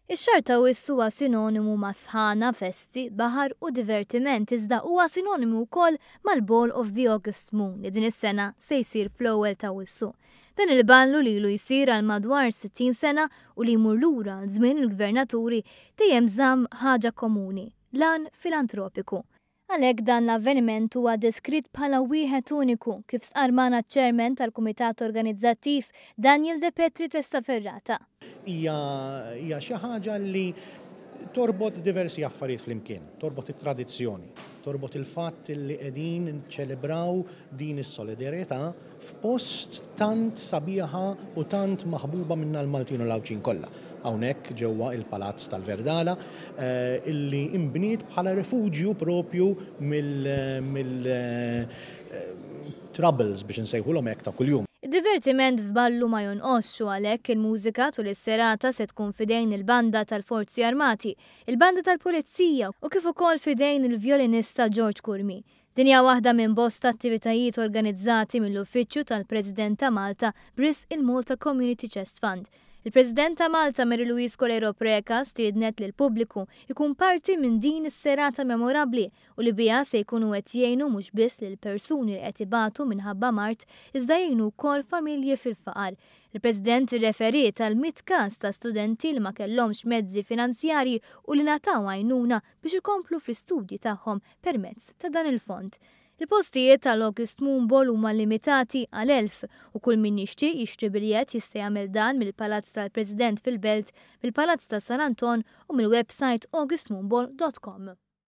Ix-xahar ta' Wissu huwa sinonimu ma' sħana, festi, baħar u divertiment iżda huwa sinonimu wkoll mal-Ball of the August Moon li din is-sena se jsir fl-ewwel ta' Wissu. Dan il-ballu li ilu jsir għal madwar 60 sena u li jmur lura għal żmien il-Gvernaturi dejjem żamm ħaġa komuni, l-għan filantropiku. Għalhekk dan l-avveniment huwa deskritt bħala wieħed uniku, kif stqarr magħna ċ-Chairman tal-Kumitat Organizzattiv, Daniel De Petri Testa Ferrata. Hija hija xi ħaġa li torbot diversi affarijiet flimkien, torbot it-tradizzjoni, torbot il-fatt li qegħdin niċċelebraw din is-solidarjetà, f'post tant sabiħa u tant maħbuba minna l-Maltin u l-Għawdxin kollha, hawnhekk ġewwa il-Palazz tal-Verdala, illi inbniet bħala refuġju propju mill troubles, biex insejħulhom hekk, ta' kuljum. Id-divertiment f'Ballu ma jonqosx u għalhekk il-mużika tul is-serata se tkun f'idejn il-Banda tal-Forzi Armati, il-Banda tal-Pulizija u kif ukoll f'idejn il-vjolinista George Curmi. Din hija waħda minn bosta attivitajiet organizzati mill-Uffiċċju tal-President ta' Malta b'risq il-Malta Community Chest Fund. Il-President ta' Malta Mary Louise Coleiro Preca stiednet lill-pubbliku jkun parti minn din is-serata memorabbli u li biha se jkunu qed jgħinu mhux biss lil persuni li qed ibatu minħabba mard iżda jgħinu wkoll familji fil-faqar. Il-President irreferiet għal mitt każ ta' studenti li ma kellhomx mezzi finanzjarji u li ngħataw għajnuna biex ikomplu fl-istudji tagħhom permezz ta' dan il-fond. Il-postijiet tal-August Moon Ball huma limitati għal 1000 u kull min jixtieq jixtri biljett jista' jagħmel dan mill-Palazz tal-President fil-Belt, mill-Palazz ta' San Anton u mill-websajt augustmoonball.com.